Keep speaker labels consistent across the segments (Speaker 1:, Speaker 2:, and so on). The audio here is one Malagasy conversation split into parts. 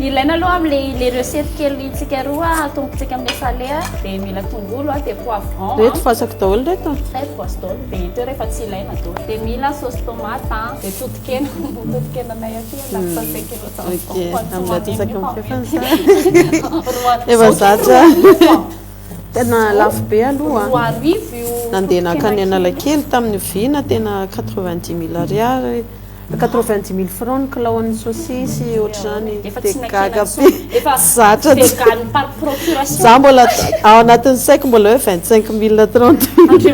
Speaker 1: Ilaina aloha amle le recette kely tsika roa atombotsika amle salé dia mila tongolo dia poivron. Reto voasako daholo
Speaker 2: reto a. Reto voasy
Speaker 1: daholo dia ito rehefa tsy ilaina daholo dia mila sauce tomate dia totokena ny totokenanay aty a ndaty sase kilo tao
Speaker 2: efa zatra tena lafo be aloha roa arivo io
Speaker 1: nandeha nankany
Speaker 2: analakely tamin'ny vina tena quatre vingt dix mille ariary Quatre-vingt-dix mille francs ny kilao an'ny sosisy ohatr'izany dia gaga be zatra za mbola ao anatin'ny saiko mbola hoe vingt-cinq mille trente mille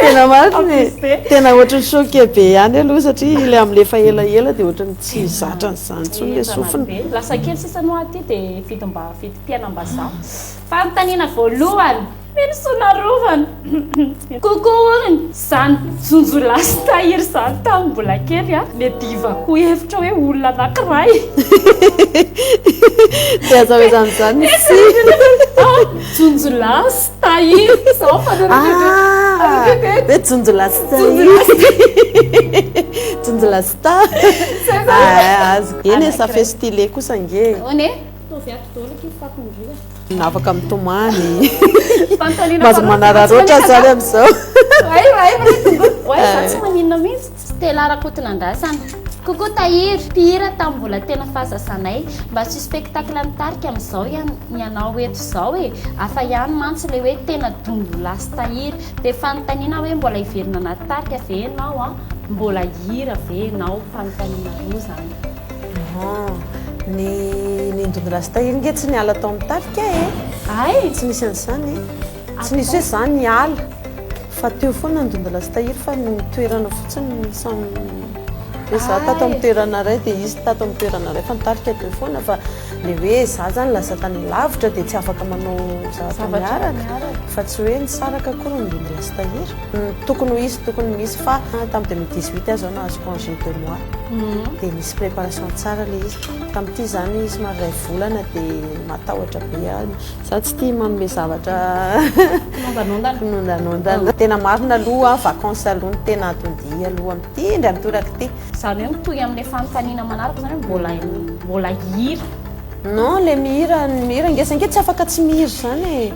Speaker 2: tena marina e tena ohatrany choqué be ihany aloha satria ilay amin'ilay efa elaela dia ohatrany tsy zatra an'izany intsony ilay sofina lasa kely sisa no
Speaker 1: aty dia vidim-piainam-bazaha fanontaniana voalohany Mino soa narovana. Coucou hono. Zany jonjo lasy tahiry zany tamin'ny mbola kely a, mety ivakoa hevitra hoe olona anakiray.
Speaker 2: Tsy azo amezana zany ny tsy. Jonjo
Speaker 1: lasy tahiry zao fanorana. Ah,
Speaker 2: hoe jonjo lasy tahiry. Jonjo lasy ta. Ah, azoko. Eny e, ça fait style kosa nge. Ahoana e? Ataovy ato daholo akia fako indrindra. Afaka mitomany. Fanontaniana Mahazo manararaotra zany amin'izao. Ay, ay, ay, tongolo. Oay,
Speaker 1: za tsy maninona mihitsy. Stella Rakotonandrasana. Coucou Tahiry, mpihira tamin'ny mbola tena fahazasanay. Mba asio spectacle ny tarika amin'izao ihany ny anao eto izao e. Hafa ihany mantsy ilay hoe tena dongolahy sy tahiry. Dia fanontaniana aho hoe mbola hiverina anaty tarika ve ianao an? Mbola hihira ve ianao? Fanontaniana roa izany. Ahaa, ny
Speaker 2: nindon'i rasta iny nge tsy niala tao amin'ny tafika e! Ay! Tsy nisy an'izany e! Tsy nisy hoe za niala fa teo foana ny dondy rastahiry fa ny toerana fotsiny no samy hoe za tato amin'ny toerana iray dia izy tato amin'ny toerana iray fa ny tafika teo foana fa ilay hoe za izany lasa tany lavitra dia tsy afaka manao zavatra miaraka fa tsy hoe nisaraka akory ny dondy rastahiry. Tokony ho izy, tokony ho misy fa tam 2018 aho zao nahazo congé deux mois dia nisy préparation tsara ilay izy. Tamin'ity zany somary iray volana dia matahotra be aho. Izaho tsy tia manome zavatra kinondanondana. Tena marina aloha vacances aloha no tena atodihy aloha amin'ity indry amin'ity toraka ity. Izany hoe mitohy amin'ilay
Speaker 1: fanontaniana manaraka izany hoe mbola hihira? Non, ilay
Speaker 2: mihira, ny mihira ngeza ange tsy afaka tsy mihira izany e.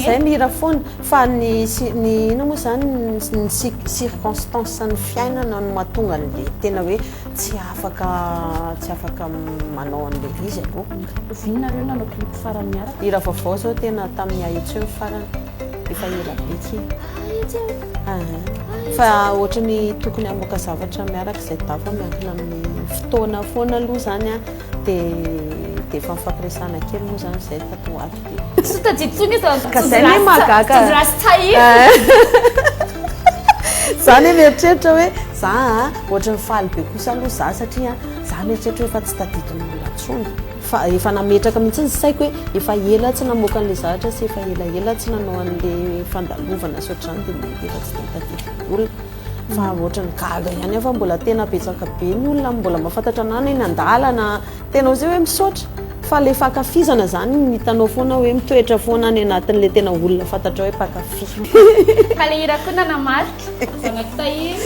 Speaker 2: Zay mira foana fa ny ny inona moa zany ny circonstance ny fiainana no mahatonga anle tena hoe tsy afaka tsy afaka manao anle izy aloha. Oviana nareo nanao
Speaker 1: clip farany niaraka? Hira vaovao zao tena
Speaker 2: tamin'ny ahitsy eo ny farany efa ela be tsy ahitsy eo ahh fa ohatran'ny tokony hamoaka zavatra miaraka izay dafa miankina amin'ny fotoana foana aloha zany an. Dia efa nifampiresahana kely moa izany izay tato ho ato dia. Tsy tadidy intsony
Speaker 1: izy fa tojo
Speaker 2: rasta tojo rasta tahiry. Za anie mieritreritra hoe za a, ohatran'ny faly be kosa aloha za satria za mieritreritra hoe efa tsy tadidin'olona intsony. Fa efa nametraka mihitsy ny saiko hoe efa ela aho tsy namoaka an'ilay zavatra sy efa elaela aho tsy nanao an'ilay fandalovana sy ohatr'izany dia mety efa tsy dia tadidin'olona. Fa otrany gaga ihany aho fa mbola tena betsaka be ny olona mbola mahafantatra anah na eny andalana tena ozy hoe misaotra fa le fankafizana zany ny hitanao foana hoe mitoetra foana any anatin'le tena olona fantatrao hoe mpankafy. Ka le hira
Speaker 1: koa nanamarika. Zanak'i Tahiry.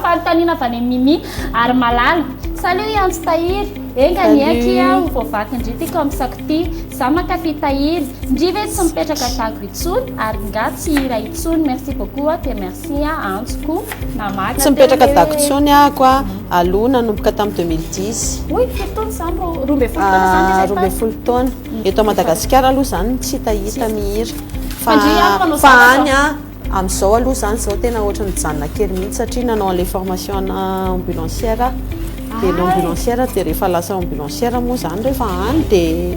Speaker 1: Fanontaniana avy any amin'i Mimi ary Malala. Salut Antso Tahiry. Enga anie akia ho voavaky ndry ty kaomsako ty, za mankafy tahiry, ndry ve tsy mipetraka dago intsony ary nga tsy hira intsony, merci beaucoup a dia merci a Antso ko namaky. Tsy mipetraka dago
Speaker 2: intsony ahako a, aloha nanomboka tam deux mille dix. Oi firy taona zany ro,
Speaker 1: roa ambin'ny folo taona zany ilay tany? Roa ambin'ny folo taona,
Speaker 2: eto Madagasikara aloha zany tsy hitahita mihira fa any a, Amin'izao aloha izany izao tena ohatry ny mijanona kely mihitsy satria nanao an'ilay formation ana ambulancière aho. Dia ilay ambulancière dia rehefa lasa ambulancière moa izany rehefa any dia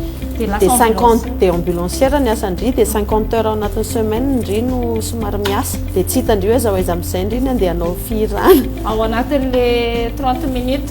Speaker 2: dia 50 dia ambulancière ny asan-dry dia 50 heures ao anatin'ny semaine ndry no somary miasa. Dia tsy hitan-dry hoe aiza ho aiza amin'izay ndry ny andeha hanao fihirana. Ao anatin'ilay
Speaker 1: 30 minutes.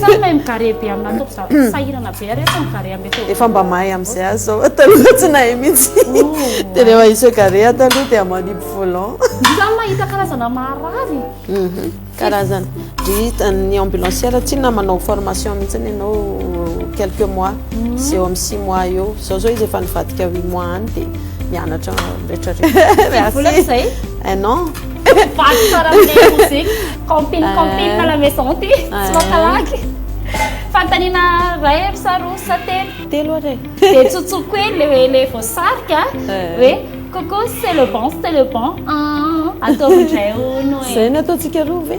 Speaker 2: Sa mahay
Speaker 1: migaré be amina atao za sahirana be ary asa migaré ambe teo. Efa mba mahay amzay
Speaker 2: azy zao fa taloha tsy nahay mihitsy. De rehefa i se garé ato aloha dia manipy volant. Sa mahita
Speaker 1: karazana marary? Karazana.
Speaker 2: Ry ny ambulancière tsinona manao formation mihitsy ianao quelques mois sy eo amin'ny six mois eo. Zao zao izy efa nivadika huit mois any dia mianatra retraretra. Tsy vola zay? Un an. Vaky
Speaker 1: tsara amin'ilay mozika. Camping, camping à la maison ity. Tsy mampalaky. Fanontaniana iray ry sa roa sa telo? Telo ary e.
Speaker 2: Dia tsotsoko hoe
Speaker 1: ilay hoe ilay voasarika hoe coucou c'est le bon, c'est le bon. Ataovy indray hono e. Izay no ataontsika roa
Speaker 2: ve?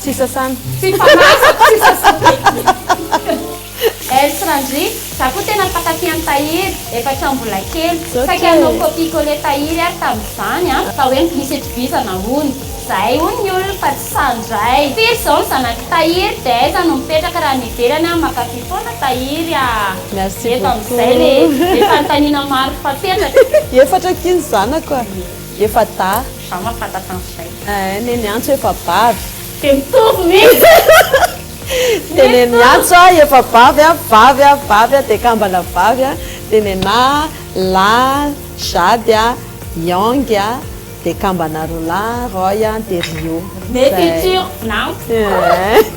Speaker 2: Tsy sasana. Tsy fanazako
Speaker 1: tsy sasana eky. Else Randri, za koa tena mpankafy an'i Tahiry, efa hatramin'ny mbola kely. Saika hanao copie coller Tahiry ary tamin'izany an. Fa hoe misy itovizana hono. Zahay hono ny olona fa tsy sahy ndray. Firy izao ny zanak'i Tahiry dia aiza no mipetraka raha any ivelany an, mankafy foana Tahiry a. Merci beaucoup. Eto amin'izay
Speaker 2: le le
Speaker 1: fanontaniana maro fapetraka. Efatra akia ny
Speaker 2: zanako a. Efa dahy.
Speaker 1: Za ma fantatra an'izay. Eeh neny antso efa
Speaker 2: bavy. Dia mitovy
Speaker 1: ny Tsy dia
Speaker 2: neny antso aho efa bavy a, bavy a, bavy a, dia kambana vavy a, dia nenah a, lahy a, jade a, young a, dia kambana roa lahy a, roy a, dia rio. Zay.
Speaker 1: Nety tsurf nao. Eeh.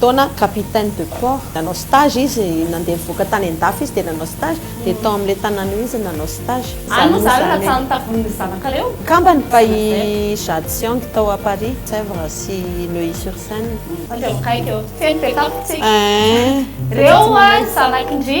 Speaker 2: taona capitaine de port nanao stage izy nandeha nivoaka tany andafy izy dia nanao stage dia tao amin'ilay tanàna io izy no nanao stage Any moa zany raha tsy
Speaker 1: any taborin'ny zanakareo? Kambany fa i
Speaker 2: Jadsiang tao à Paris, Sèvres sy Neuilly sur Seine. Fa tsy eo akaiky eo.
Speaker 1: Tsy eny be tampoko tsika. Reo ho'a ny zanaky ndry.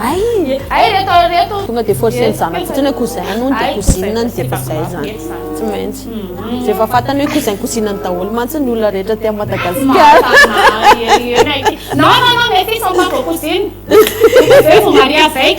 Speaker 1: Aii ay
Speaker 2: reto ary reto. Tonga de force
Speaker 1: ny zanako
Speaker 2: fotsiny hoe cousin ny hono de cousine ny de efa zay zany tsy maintsy refa fatany hoe cousin cousine ny daholo mantsy ny olona rehetra aty am Madagascar.
Speaker 1: Non non non mes filles sont pas vos cousines, vous devez vous marier avec.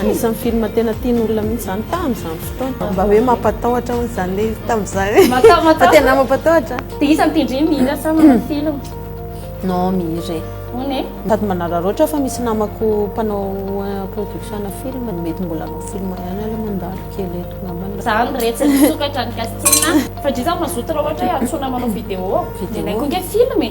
Speaker 2: Anisan'ny film tena tian'ny olona mihitsy izany tamin'izany fotoana. Mba hoe mampatahotra hono izany le izy tamin'izany. Fa tena mampatahotra. Dia iza no tendreny
Speaker 1: mihira sa manao mm. film? Non,
Speaker 2: mihira e. Hono e? Sady
Speaker 1: manararaotra
Speaker 2: fa misy namako mpanao eh, production film mety mbola hanao film ihany aloha mandalo kely eto ngambany. Izany rehetra misokatra ny casting.
Speaker 1: Fa dry za mazoto raha ohatra hoe antsoina manao vidéo. Vidéo. Ilay koa nge film e.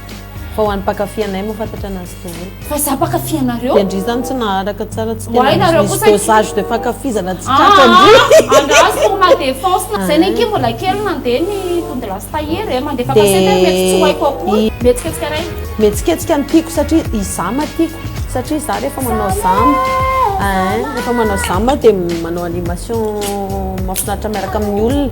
Speaker 2: Fa ho an'ny mpankafy anay moa fantatra anazy daholo. Fa za mpankafy
Speaker 1: anareo. Dia ndry zany tsy naharaka
Speaker 2: tsara tsy tena misy dosage de fankafizana tsy tratra ndry. Ah angaha pour ma défense na. Zay nenke mbola kely nandeha ny tody lasy tahiry
Speaker 1: eh, mandefa cassette eh, mety tsy ho haiko akory. Mihetsiketsika reny.
Speaker 2: Mihetsiketsika no tiako
Speaker 1: satria
Speaker 2: izama tiako satria za rehefa
Speaker 1: manao
Speaker 2: zama eeh rehefa manao zama aho dia manao animation mahafinaritra miaraka amin'ny olona.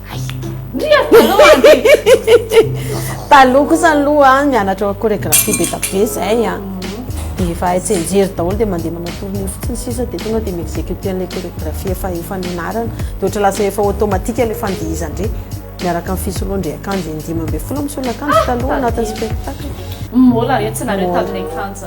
Speaker 2: Ndria taloha anie. Taloha kosa aloha mianatra chorégraphie be da be zay a. Dia efa hay tsenjery daholo dia mandeha manao tournée fotsiny sisa dia tonga dia mi-exécuter an'ilay chorégraphie efa efa nianarana. Dia ohatra lasa efa automatique ilay fandihizana indray miaraka amin'ny fisoloan-dry akanjo in-dimy ambin'ny folo misolo akanjo taloha anatin'ny spectacle. Mbola re tsy
Speaker 1: nareo tamin'ny akanjo.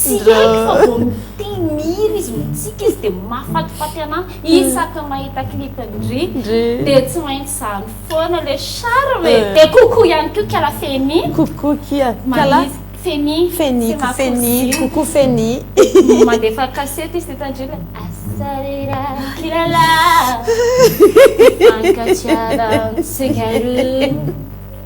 Speaker 1: Tsy haiko fa vao mitia mihira izy mitsika izy dia mahafatifaty anah isaky ny mahita clip ndry dia tsy maintsy zany foana le charme e! Dia coucou ihany koa kala Feni. Coucou kia
Speaker 2: kala Feni. Feni
Speaker 1: ky Feni. Coucou
Speaker 2: Feni. Mandefa
Speaker 1: cassette izy dia tandremo hoe asarira kilala. Mifankatia raha mitsikaroro.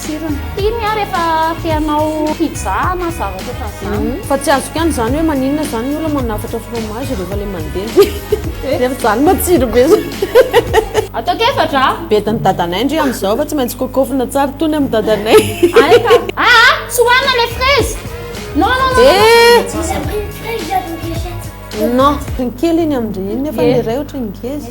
Speaker 1: tsirony. Iny ary efa te hanao pizza na zavatra ohatran'izany. Fa tsy azoko ihany izany
Speaker 2: hoe maninona izany ny olona manafatra fromage rehefa ilay mandeha. Nefa izany matsiro be izany.
Speaker 1: Ataoko efatra a! Bedin'i dadanay
Speaker 2: ndry amin'izao fa tsy maintsy kokofina tsara tony amin'i dadanay. Hay ka! Aa!
Speaker 1: Tsy hohanina ilay fraise! Non non non
Speaker 2: non! Non! Kely iny amin-dry iny nefa ny iray ohatran'ny ngeza.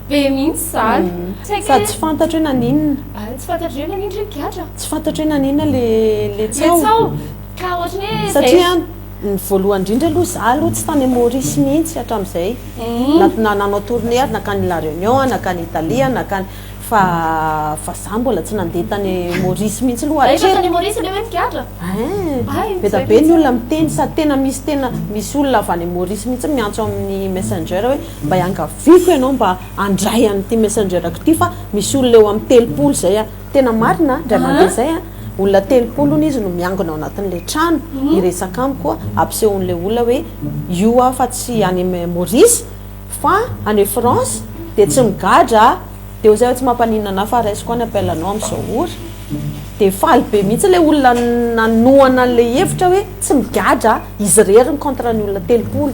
Speaker 1: Be mihitsy zany. Saika Sady tsy fantatro
Speaker 2: hoe naninona. Ary tsy fantatro hoe naninona
Speaker 1: hoe gadra. Tsy fantatro hoe naninona
Speaker 2: le le tsaho. Le tsaho.
Speaker 1: Ka ohatry ny hoe Satria ny
Speaker 2: voalohany indrindra aloha za aloha tsy tany Maurice mihitsy hatramin'izay. Na na nanao tournée ary nankany La Réunion, nankany Italie, nankany fa fa za mbola tsy nandeha tany Maurice mihitsy aloha hatreto. Rehefa tany Maurice le
Speaker 1: hoe ny
Speaker 2: gadra? Ein! Beda be ny olona miteny sady tena misy tena misy olona avy any Maurice mihitsy miantso amin'ny Messenger hoe. Mba iangaviako ianao mba handray an'ity messenger-ko ity fa misy olona eo amin'ny telopolo izay an. Tena marina an, indray mandeha izay an, olona telopolo hono izy no miangona ao anatin'ilay trano hiresaka amiko an, ampisehoan'ilay olona hoe io aho fa tsy any Maurice fa any France dia tsy migadra an, dia hoy izay hoe tsy mampaninona anah fa raisiko any appel anao amin'izao ora. Dia faly be mihitsy ilay olona nanohana an'ilay hevitra hoe tsy migadra an, izy irery ny contre ny olona telopolo.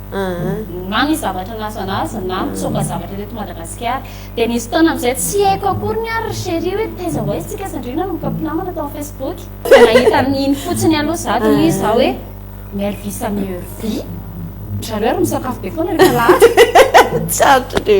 Speaker 1: aa. Na ny zavatra nasanasa na nitsoaka zavatra teto Madagasikara. Dia nisy fotoana amin'izay tsy haiko akoriny ary ry Cherie hoe taiza ho aiza isika sy Andriana no mboka mpinamana tao amin'ny Facebook. Vao nahita amin'iny fotsiny aloha izaho dia hoy izaho hoe Mervy samy Hervy. Ry zareo ary misakafo be foana rehefa lahatra. Tsarotra
Speaker 2: ry.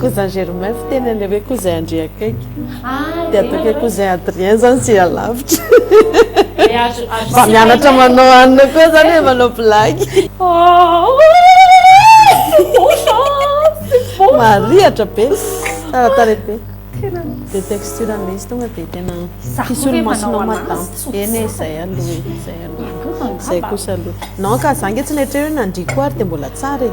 Speaker 2: Cousin Germain fiteny an'ilay hoe cousin Andry akaiky. Dia ataoko hoe cousin Adrien izany tsy alavitra. Mba mianatra manao anona koa izany hoe manao blagy. Marihatra be, tsara tarehy be. Le texture le izy tonga de tena fisolomasinao madame eny e zay aloha e zay aloha e zay kosa aloha non ka za nge tsy nieritreritra hoe nandria koa ary de mbola tsara
Speaker 1: e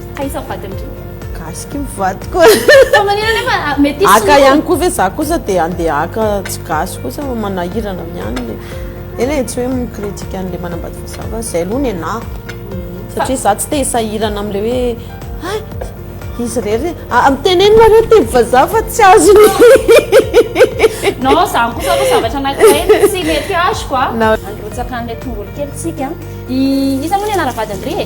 Speaker 1: Ka iza vadiny ry? Gasy ky
Speaker 2: mivady koa. Fa manina nefa
Speaker 1: ah, metisy no. Aka ihany koa ve za
Speaker 2: kosa dia andeha aka tsy gasy kosa fa manahirana miany le. Eny e, tsy hoe mi-critique an'le manambady fa za va, zay aloha nenahako. Satria za tsy te hisahirana am'le hoe hay, izy rery, ah miteneno nareo teny vazaha fa tsy azon'ny. Non,
Speaker 1: zany kosa aloha zavatra anankiray tsy mety azoko ah. Androtsaka an'le tongolo kely tsika. I iza moa ny anaran'ny vadiny ry e?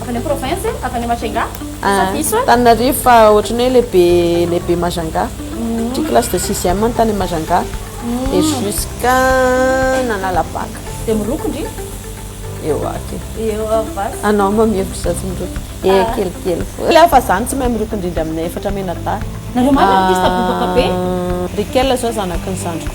Speaker 1: Avy any am province e, avy any Majunga, sa diso e? Antananarivo
Speaker 2: fa ohatran'ny hoe lehibe lehibe Majunga. Satria classe de sixième no tany Majunga et jusqu'à nanala bac. Dia miroko
Speaker 1: ndry. Eo
Speaker 2: aky e. Eo avasy.
Speaker 1: Anao moa mihevitra za
Speaker 2: tsy miroko. Ee kelikely foana. Kely fa za no tsy mahay miroko indrindra amin'ny efatra menadahy. Nareo marina artiste
Speaker 1: bobaka be. Ry Kely zao
Speaker 2: zanaky ny zandriko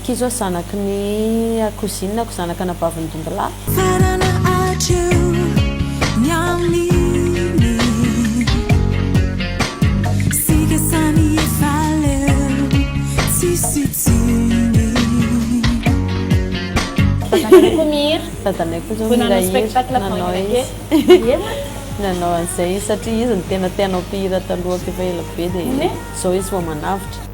Speaker 2: Ity izao zanaky ny kozinako, zanaka anabavin'ny dondolahy. Karana
Speaker 3: hatreo ny amin'iny sika samy efa leo tsisy tsiny. Dadanay koa
Speaker 1: mihira. Dadanay koa izao mihira
Speaker 2: hira,
Speaker 1: nanao
Speaker 2: izy nanao an'izay izy satria izy no tena te hanao mpihira taloha k'efa ela be dia izao izy vao manavotra.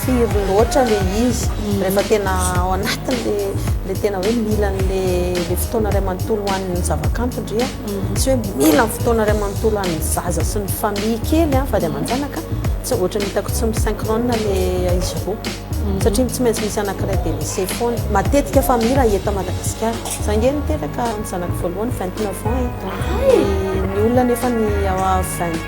Speaker 2: firy loatra le izy rehefa tena ao anatiny le tena hoe mila an'le le fotoana ray manontolo hoan'ny zavakanto ndry a mhm. tsy hoe mila fotoana ray manontolo an'ny zaza sy ny famille kely a fady aman-janaka tsy ohatra ny hitako tsy misyncrone le izy roa mhm. satria tsy maintsy misy anankiray de lese foana matetika famille raha eto madagasikara za nge niteraka ny zanako voalohany vingt neuf ans e ny olona nefa ny vingt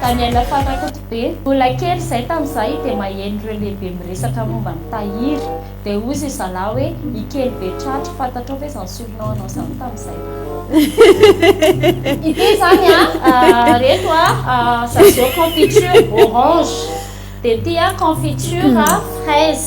Speaker 1: Daniel Fanakotobe, Mbola kely izay tamin'izahay dia maheno ireo lehibe miresaka momba an'i Tahiry, dia hoy izy zalahy hoe i kely be tratry, fantatrao ve izany surnom anao izany tamin'izay? Ity izany an, reto an, Zazou Confiture orange, dia ity an, Confiture fraise.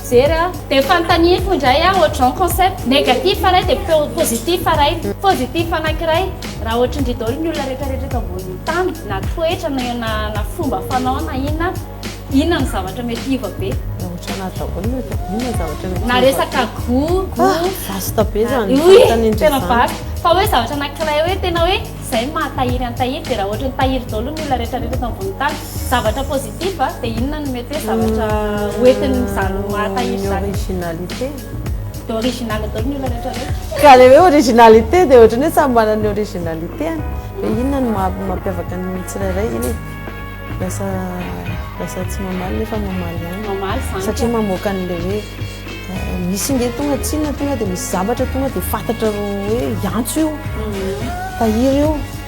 Speaker 1: Mijery aho dia fanontaniako indray aho ohatrizao ny concept, négatif iray dia positif iray, positif anankiray raha ohatrindry daholo ny olona rehetra rehetra eto ambonin'ny tany na toetra na na fomba fanao na inona, inona no zavatra mety hiova be? Raha ohatrany ahy daholo ny eto, inona ny zavatra mety hiova be? Na resaka gout, gout, vaste be zany
Speaker 2: ny fanontaniana izany, tena vaste,
Speaker 1: fa hoe zavatra anankiray hoe tena hoe izay no maha tahiry an'i tahiry dia raha ohatry ny tahiry daholo ny olona rehetra rehetra eto ambonin'ny tany, Zavatra positif a, dia inona no mety hoe zavatra hoentin'izany maha tahiry izany? Ny originalité. Dia original daholo
Speaker 2: ny olona rehetra ve? Ka ilay hoe originalité dia ohatran'ny hoe samy manana ny originalité-ny. Dia inona no maha mampiavaka ny tsirairay? Inona e? Lasa lasa tsy mamaly nefa mamaly ihany. Mamaly izany ka. Satria mamoaka an'ilay hoe misy ange tonga tsinona tonga dia misy zavatra tonga dia fantatra hoe hiantso io, tahiry io.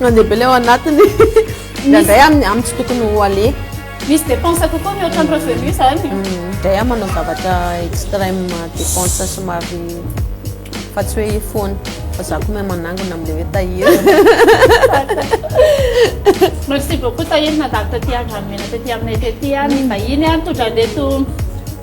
Speaker 2: Mandeha be ilay ao anatiny. Indraindray amin'ny amin'ny tsy tokony ho aleha. Misy dépense
Speaker 1: kokoa mihoatra ny revenu izany. Indray aho manao
Speaker 2: zavatra extrême dépense somary fa tsy hoe foana fa za koa mahay manangona amin'ilay hoe Tahiry. Merci
Speaker 1: beaucoup Tahiry nandalo taty an-dranomena taty aminay taty an, ny vahiny an, tondran'ireto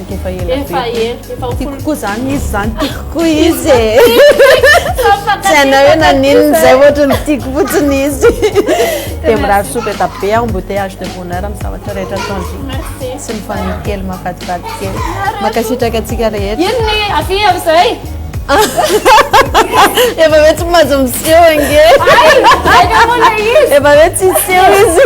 Speaker 2: Efa ela be. Efa ela, efa ho
Speaker 1: Tiako koa zany izy
Speaker 2: zany, tiako koa izy e. Tsy hainao hoe naninona izay ohatra ny tiako fotsiny izy. Dia mirary soa be da be aho, embouteillage de bonheur amin'ny zavatra rehetra ataon'i Merci. Sy ny famille
Speaker 1: kely
Speaker 2: mahafatifaty kely. Mankasitraka antsika rehetra. Ino ny afi amin'izay? Efa hoe tsy mahazo miseho ange. Ay, ay, namoana
Speaker 1: izy. Efa hoe tsy hiseho
Speaker 2: izy.